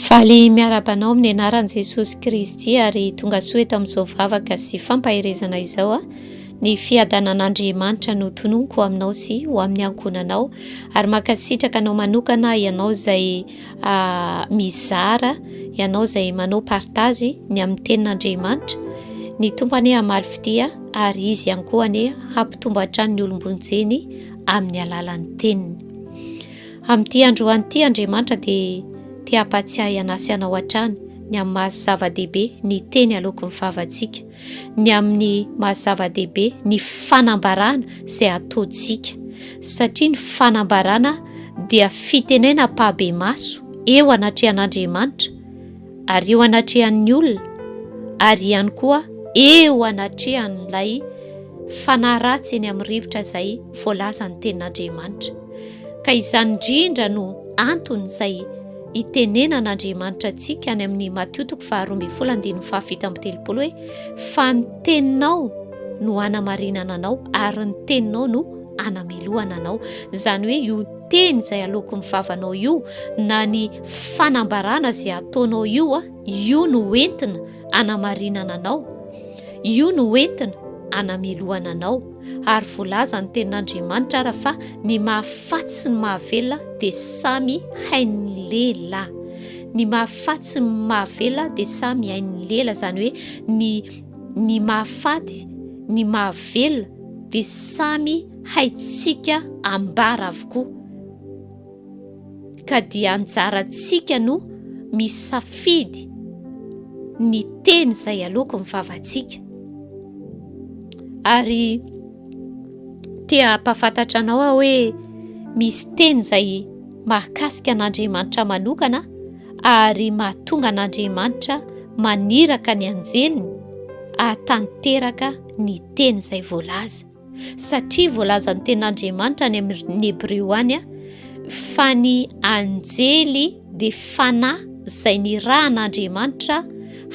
Faly miaraba anao amin'ny anaran'i Jesosy Kristy ary tonga soa eto amin'izao vavaka sy fampaherezana izao a. Ny fiadanan'Andriamanitra no tononiko aminao sy ho amin'ny ankohonanao ary mankasitraka anao manokana ianao izay mizara ianao izay manao partage ny amin'ny tenin'Andriamanitra ny tompo anie hamaly fitia ary izy ihany koa anie hampitombo hatrany ny olom-bonjeny amin'ny alalan'ny teniny amin'ity androan'ity Andriamanitra dia te hampatsiahy anasy anao hatrany ny amin'ny maha zava-dehibe ny teny aloaky ny favantsika ny amin'ny maha zava-dehibe ny fanambarana izay ataontsika satria ny fanambarana dia fitenena mpahabe maso eo anatrehan'Andriamanitra ary eo anatrehan'ny olona ary ihany koa eo anatrehan'ilay fanahy ratsy eny amin'ny rivotra izay voalazan'ny tenin'Andriamanitra ka izany indrindra no antony izay Itenenan' Andriamanitra antsika any amin'ny Matio toko faharoa ambin'ny folo andininy fahafito amby telopolo hoe, Fa ny teninao no hanamarinana anao ary ny teninao no hanamelohana anao. Izany hoe io teny izay aloako amin'ny vavanao io na ny fanambarana izay ataonao io, io no entina hanamarinana anao, io no entina hanamelohana anao. ary voalazan'ny tenin'Andriamanitra ara fa ny mahafaty sy ny mahavelona dia samy hain'ny lehilahy ny mahafaty sy ny mahavelona dia samy hain'ny lela izany hoe ny ny mahafaty ny mahavelona dia samy haitsika ambara avokoa ka dia anjarantsika no misafidy ny teny izay aloako ny vavantsika ary te hampafantatra anao aho hoe misy teny izay mahakasika an'Andriamanitra manokana ary mahatonga an'Andriamanitra maniraka ny anjeliny ahatanteraka ny teny izay voalaza. Satria voalazan'ny ten'Andriamanitra any amin'ny Hebreo any fa ny anjely dia fanahy izay nirahan'Andriamanitra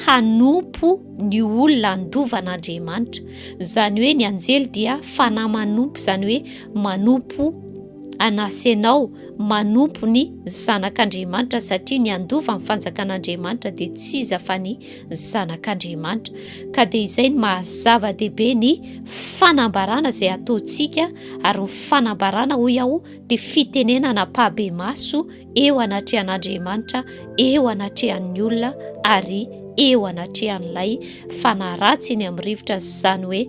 hanompo ny olona andovan'Andriamanitra. Izany hoe ny anjely dia fanahy manompo, izany hoe manompo an'asy ianao, manompo ny zanak'Andriamanitra satria ny andovan'ny fanjakan'Andriamanitra dia tsy iza fa ny zanak'Andriamanitra. Ka dia izay ny maha zava-dehibe ny fanambarana izay ataontsika ary ny fanambarana hoy aho dia fitenenana ampabemaso eo anatrehan'Andriamanitra, eo anatrehan'ny olona ary eo anatrehan'ilay fanahy ratsy eny amin'ny rivotra izany hoe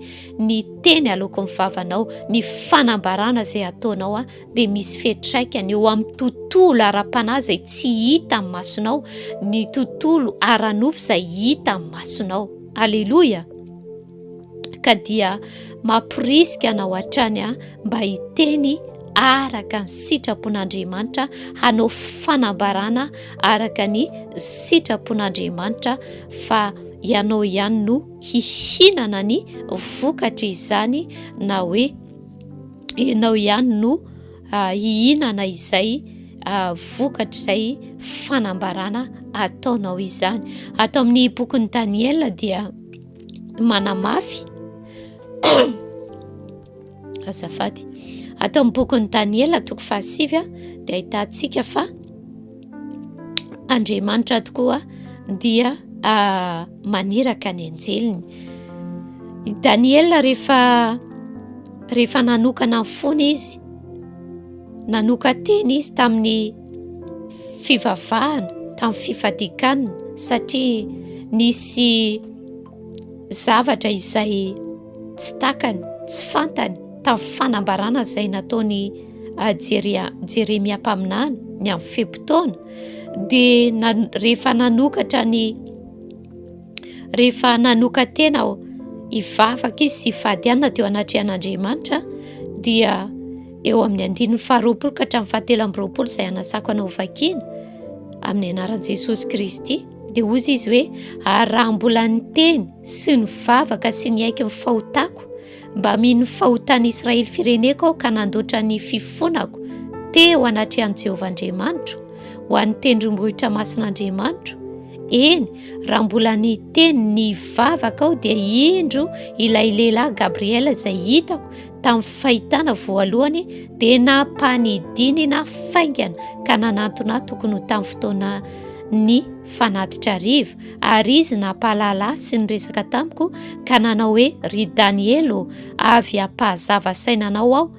ny teny aloakon'ny vavanao, ny fanambarana izay ataonao dia misy fiantraikany eo amin'ny tontolo ara-panahy izay tsy hita amin'ny masonao, ny tontolo ara-nofo izay hita amin'ny masonao. Aleloia! Ka dia mamporisika anao hatrany aho mba hiteny araka ny sitrapon'Andriamanitra, hanao fanambarana araka ny sitrapon'Andriamanitra fa ianao ihany no hihinana ny vokatry izany na hoe ianao ihany no ah, hihinana izay ah, vokatr'izay fanambarana ataonao izany ato amin'ny bokin'i daniela dia manamafy azafady ato amin'ny bokin'i daniela toko fahasivy a dia ahitantsika fa Andriamanitra tokoa dia ah, maniraka ny anjeliny. I Daniela rehefa rehefa nanokana ny fony izy, nanokan-teny izy tamin'ny fivavahana, tamin'ny fifadikanana satria nisy zavatra izay tsy takany, tsy fantany. Tamin'ny fanambarana izay nataon'i Jeria, Jeremia mpaminany ny amin'ny fe-potoana, dia na, rehefa nanokatra ny rehefa nanoka-tena aho hivavaka izy sy fadiana teo anatrehan'Andriamanitra, dia eo amin'ny andininy faharoapolo ka hatramin'ny fahatelo amby roapolo izay anasako anao vakiana amin'ny anaran'i Jesosy Kristy dia hoy izy hoe ary raha mbola niteny sy nivavaka sy niaiky ny fahotako Mba mino fa ho tany Israely fireneko aho ka nandoatra ny fifonako teo anatrehan'i Jehovah Andriamanitro, ho an'ny tendrombohitra masin'Andriamanitro. Eny, raha mbola niteny ny vavaka aho dia indro ilay lehilahy Gabriela izay hitako tamin'ny fahitana voalohany dia nampanidinina faingana ka nanantona tokony ho tamin'ny fotoana ny fanatitra ariva. Ary izy nampahalala ahy sy niresaka tamiko ka nanao hoe, Ry Daniely ô, avy hampahazava saina anao aho,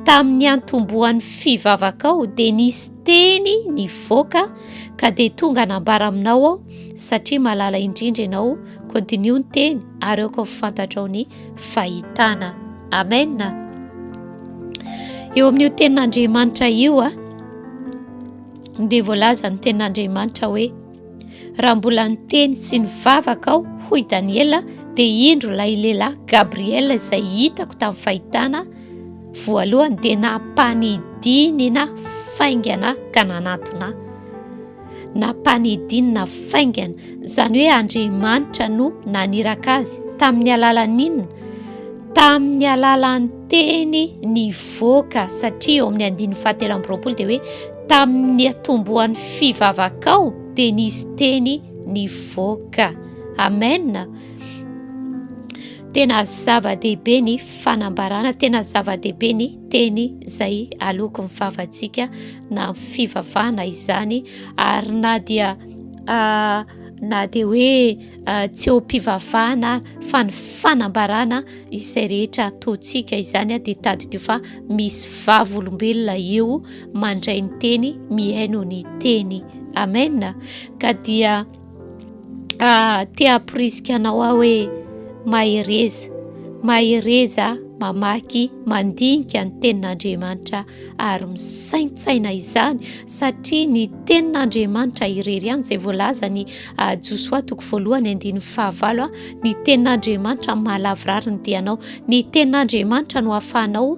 tamin'ny niantombohan'ny fivavakao dia nisy teny nivoaka ka dia tonga nambara aminao aho satria malala indrindra ianao, continue ny teny ary aoka ho fantatrao ny fahitana. Amen. Eo amin'io tenin'Andriamanitra io, dia voalaza ny tenin'Andriamanitra hoe, Raha mbola niteny sy nivavaka aho, hoy Daniela, dia indro ilay lehilahy Gabriela izay hitako tamin'ny fahitana voalohany dia nampanidinina faingana ka nanatona. Nampanidinina faingana, izany hoe Andriamanitra no naniraka azy. Tamin'ny alalan'inona? Tamin'ny alalan'ny teny nivoaka satria eo amin'ny andininy fahatelo amby roapolo dia hoe Tamin'ny niatombohan'ny fivavakao dia nisy teny nivoaka. Amen. Tena zava-dehibe ny fanambarana, tena zava-dehibe ny teny izay aloky ny vavantsika na fivavahana izany ary na dia ah, na dia hoe ah, tsy eo mpivavahana fa ny fanambarana izay rehetra ataontsika izany dia tadidio fa misy vavolombelona eo mandray ny teny mihaino ny teny amena ka dia ah, te hamporisika anao aho hoe mahereza mahereza mamaky mandinika ny tenin'Andriamanitra ary misaintsaina izany satria ny tenin'Andriamanitra irery ihany izay voalaza ny ah, Josoa toko voalohany andininy fahavalo ah, ny tenin'Andriamanitra mahalavorary ny dianao ny tenin'Andriamanitra no ahafahanao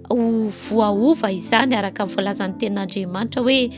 Ho voaova izany araka ny voalazan'ny tenin'Andriamanitra hoe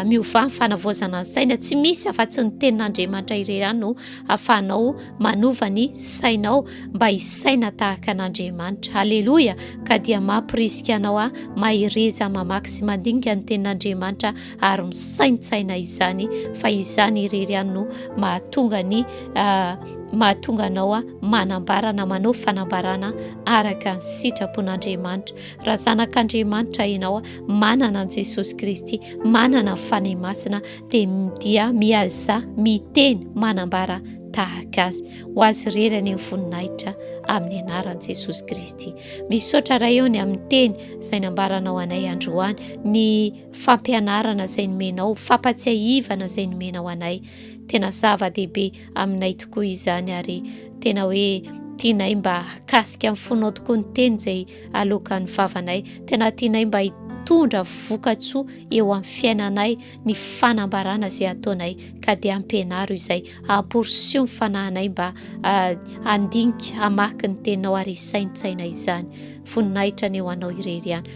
miovà ny fanavaozana ny saina. Tsy misy afa-tsy ny tenin'Andriamanitra irery ihany no afahanao manova ny sainao mba hisaina tahaka an'Andriamanitra. Aleloia! Ka dia mampirisika anao aho mahereza mamaky sy mandinika ny tenin'Andriamanitra ary misaintsaina izany fa izany irery ihany no mahatonga ny ah, mahatonga anao a ah, manambarana manao fanambarana araka ny sitrapon'andriamanitra raha zanak'andriamanitra ianao ah, manana an'i jesosy kristy manana fanahy masina dia dia miaza miteny manambara tahaka azy ho azy rery any amin'ny voninahitra amin'ny anaran'i jesosy kristy misaotra ray eo ny amin'ny teny izay nambaranao anay androany ny fampianarana izay nomenao, fampatsiahivana izay nomenao anay. Tena zava-dehibe aminay tokoa izany ary tena hoe tianay mba hakasika amin'ny fonao tokoa ny teny izay alokan'ny vavanay. Tena tianay mba hitondra vokatsoa eo amin'ny fiainanay ny fanambarana izay ataonay ka dia ampianaro izay amporisio ny fanahinay mba ah, handinika hamaky ny teninao ary hisaintsaina izany. Voninahitra ny eo anao irery ihany.